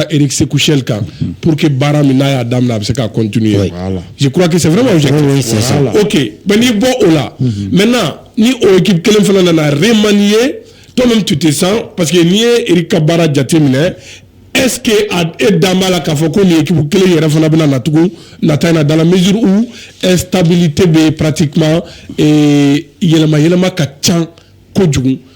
ah, Eric Sékou Chelle kan mhm. pour que baara min n'a y'a daminɛ a bɛ se ka continuer oui. voilà. je crois que c'est vraiment objectif, oui, c'est ça. Voilà. ok ben n'i bɔ o la mm -hmm. maintenant ni o équipe kelen fana nana remanier toi-même tu te sens parce que n'i ye Eric ka baara jateminɛ est ce que a e dan b'a la k'a fɔ ko nin équipe kelen yɛrɛ fana bɛna na tugun nata in na dans la mesure où instabilité bɛ pratiquement eh, yɛlɛma yɛlɛma ka ca kojugu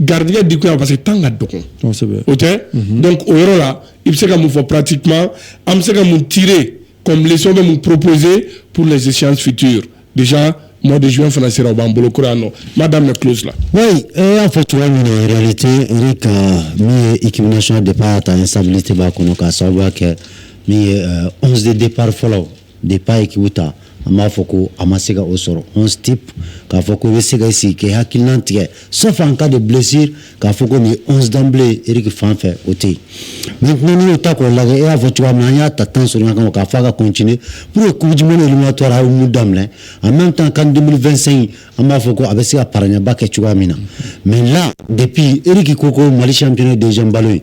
garijɛgɛ di quoi parce que temps ka dɔgɔn o tɛ donc o yɔrɔ la i bɛ se ka mun fɔ pratiquement an bɛ se ka mun tirer comme leçon bɛ mun proposer pour les échéances futures déjà mois de juin fana sera u b'an bolo kɔrɔ yan nɔ n b'a daminɛ close la. oui e y'a fɔ cogoya min na en réalité Eric min ye équipe nationale départ ta instabilité b'a kɔnɔ k'a sababu kɛ min ye 11 de départ fɔlɔ De ba ye k'u ta an b'a fɔ ko a ma se ka o sɔrɔ tɛ k'a fɔ ko bɛ se ka sigi kɛ hakiliki tigɛ so fan ka de bilisi k'a fɔ ko ninbilenriki fan fɛ o tɛ yen ta k'o la e y'a fɔ cogoya min an y'a ta tan s kan k'a fɔ ka kunt p ye kuruj tora a'u daminɛ a n'an tan kan denmisɛnnin2 an b'a fɔ ko a bɛ se ka paraba kɛ cogoya min na mɛ la depki ko ko malic kelen dezbalo ye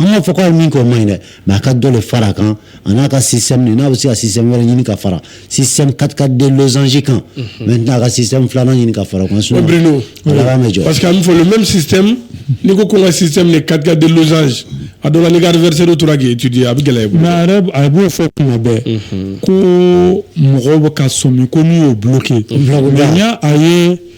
An b'a fɔ k' min kɛ o ma ɲi dɛ mɛ a ka dɔ de fara a kan a n'a ka si min n'a bɛ se ka si wɛrɛ ɲini ka fara si kaka den lɛnzsi kan mɛ n'a ka si filanan ɲini ka fara kan suma jɔ parce que an fɔ bɛ si n'i ko ko ka si minɛ kaka den lzsi a dɔn ni gariɛrɛsɛ tora k'i tudibi a bɛ gɛlɛya a b'o fɔ kuma bɛɛ ko mɔgɔw bɛ ka somi ko n'u y'o bulonloki a ye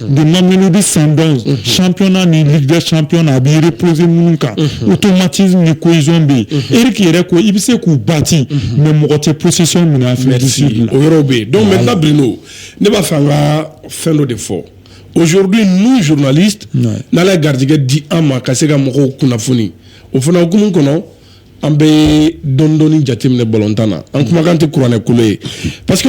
de mamuru bɛ san dɔn sanpɔnna ni lija sanpɔnna a bɛ poroze minnu kan u to mati ni koson bɛ yen eriki yɛrɛ ko i bɛ se k'u ba ten mɛ mɔgɔ tɛ psisi min o yɔrɔ bɛ yen dɔw bɛ labɛn don ne b'a fɛ an ka fɛn dɔ de fɔ ozouru n zurunli n'a garijɛgɛ di an ma ka se ka mɔgɔw kunnafoni o fana okumu kɔnɔ an bɛ dɔndɔ jateminɛ batan na an kumakan tɛ kuranɛkolo ye pa que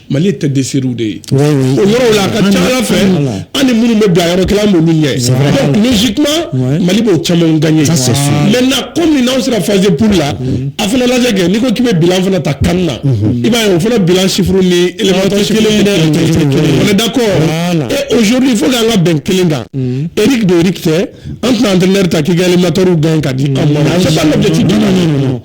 Mali ye tɛden sew de ye o yɔrɔ la a ka ca fɛ an ni minnu bɛ bila yɔrɔ kira ɲɛ mali b'o caman gan ye mɛ na ko min anw sera faz puru la a fana lajɛ kɛ n'i ko k'i bɛ bila an fana ta kan na i b'a ye o fana bila sif ni da kɔ ozouru fo ka' ka bɛn kelen kan eri don kɛ an tɛna an tɛ ta k'i ka matɔr gan ka di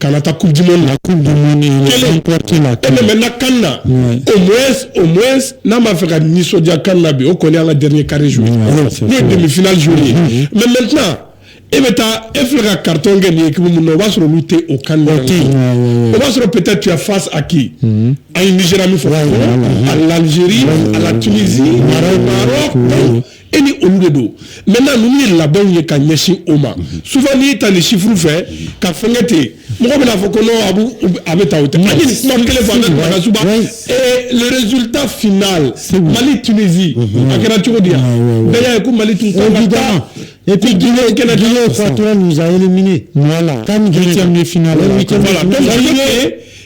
kana taa coupe du monde la coupe du monde kelen porte la kelen mais na CAN na au moins au moins n'an b'a fɛ ka nisɔndiya CAN na bi o kɔni an ka dernier carré jouer n'o ye demi finale jouer mm-hmm. mais maintenant e bɛ taa e filɛ ka carton kɛ nin équipe minnu na o b'a sɔrɔ olu tɛ o CAN na o b'a sɔrɔ peut-être tu as face à qui mm-hmm. an ye Nigeria min fɔ a l'Algérie a la Tunisie Maroc e ni olu de don maintenant ninnu ye labɛnw ye ka ɲɛsin o ma souvent n'i ta ni chiffre fɛ ka fɛnkɛ ten mɔgɔ bɛn'a fɔ ko non a bɛ taa o kuma kelen fɔ le résultat final mali tunisie a kɛra cogo di bɛɛ ye ko mali tun kɛnɛ mini la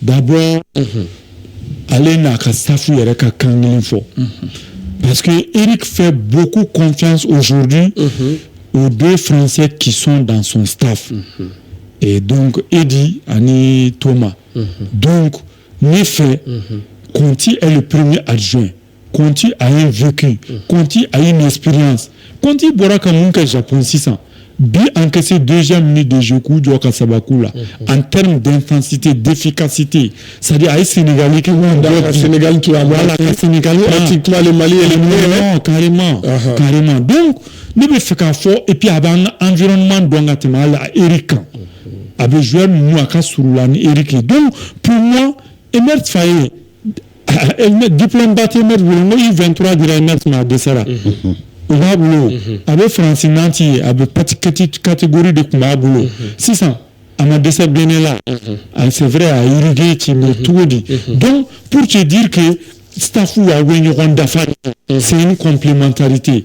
d'abord ale n'a ka staff yɛrɛ ka kan kelen fɔ parce que eric fait beaucoup confiance aujourd'hui aux deux français qui sont dans son staff et donc eddy ani thomas donc ne fɛ conti est le premier adjoint Kɔnti a ye vk kɔnti a ye ninpre kɔnti bɔra ka mun kɛ zp sisan bi an kɛ se donz min donso k'u jɔ ka sababu la an teri danfasite desi kasite sa a ye sen senka mali karima karima don ne bɛ fɛ k'a fɔ epi a bɛ an ka anfrinman dɔn ka tɛmɛ a la eri kan a bɛ z ninnu a ka surun la ni erike don p e fa ye diplôme ba tɛ emerse bolo n ko U 23 dira emerse ma a dɛsɛra u b'a bolo a bɛ france nantes yen a bɛ petit catégorie de tun b'a bolo sisan a ma dɛsɛ bene la a c'est vrai a ye yiriden ci mais cogo di donc pour te dire que staff aw bɛ ɲɔgɔn dafa c'est une complémentarité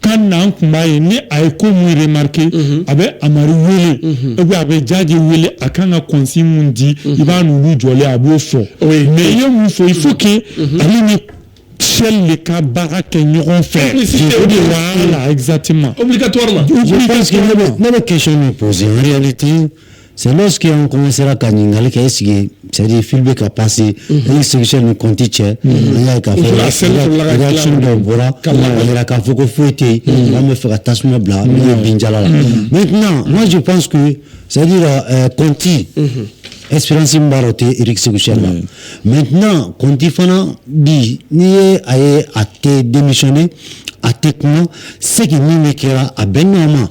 ka na kun b'a ye ni a ye ko minnu marike a bɛ amadu weele a bɛ jaji weele a kan ka kɔnsi min di i b'a nugu jɔlen a b'o fɔ mɛ i ye mun fɔ i fo ke ani ni sɛli de ka baara kɛ ɲɔgɔn fɛ zsati ma ne bɛ ke min psi ten C'est lorsque on commencera ka ɲininkali kɛ est ce que c'est à dire fil bɛ ka passer ni solution ni Conti cɛ an y'a ye k'a fɔ réaction dɔw bɔra a yira k'a fɔ ko foyi tɛ yen an bɛ fɛ ka tasuma bila n'o ye binjalan la maintenant moi je pense que c'est à dire euh, Conti expérience min b'a la o tɛ Eric Sékou Chelle la maintenant Conti fana bi n'i ye a ye a tɛ démissionner a tɛ kuma c'est que min bɛɛ kɛra a bɛnna a ma.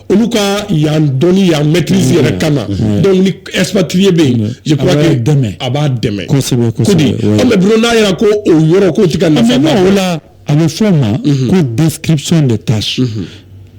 olu ka yan dɔnni yan maîtrise yɛrɛ kama donc ni expatrié bɛ yen je crois que dɛmɛ a b'a dɛmɛ kosɛbɛ kosɛbɛ kodi an bɛ bolo n'a yɛrɛ ko o yɔrɔ conti ka nafa ba mais non o la a bɛ fɔ o ma ko description de tâche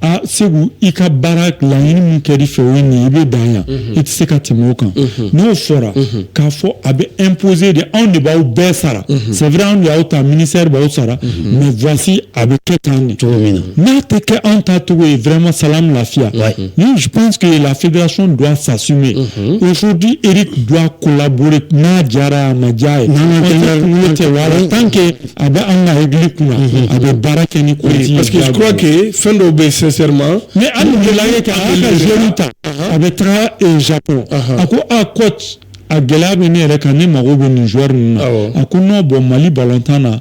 ah sékou i ka baara laɲini min kɛr'i fɛ o ye nin i bɛ dan yan i tɛ se ka tɛmɛ o kan n'o fɔra k'a fɔ a bɛ imposer de anw de b'aw bɛɛ sara c'est vrai anw de y'aw ta ministère b'aw sara mɛ vwasi a bɛ kɛ tan ni cogo min na n'a tɛ kɛ anw ta cogo ye vma sa lafiya niseke lafirason don faso ye ofidi eri don kolabɔ n'a diyara a ma diya ye tɛ tan kɛ a bɛ an ka hakili kun a bɛ baara kɛ ni kɛ fɛn dɔw bɛ seri ma mɛ an ta a bɛ taazap a ko a kɔ a gɛlɛya bɛ ne yɛrɛ kan ne mago bɛ ninwari ninnu a ko n'o bɔ mali batan na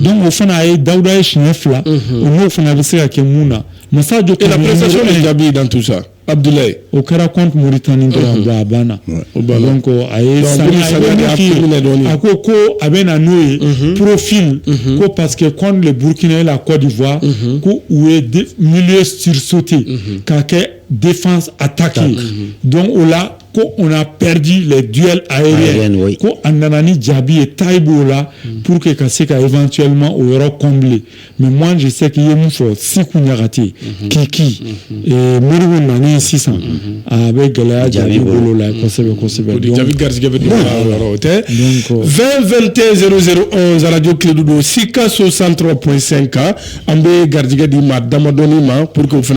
don o fana a ye dawuda ye siɲɛ fila n'o fana bɛ se ka kɛ mun na masa jɔ jaabi dan tu sa o kɛra kɔnm tan ni a banna ko a ye sa a ko ko a bɛ na n'o ye porofin ko parce que kɔn de burukina la kɔdiwa ko u ye mi sirisote k'a kɛ denfan a taki dɔn o la ko on a perdu les duels aériens oui. ko a nana ni jaabi ye taille b'o la mm. pour que ka se ka éventuellement o yɔrɔ combler mais moi je sais qu'i ye mun fɔ siku ɲakate mm -hmm. kiki mm -hmm. eh, modibo nani sisan mm -hmm. a bɛ gɛlɛya jaabi bolo la kosɛbɛ kosɛbɛ jaabi garisɛgɛ bɛ dɔgɔya o yɔrɔ o tɛ 20 21 0011 radio kledu don sikaso 103.5 kan an bɛ garijɛgɛ di maa damadɔni ma pour que o fana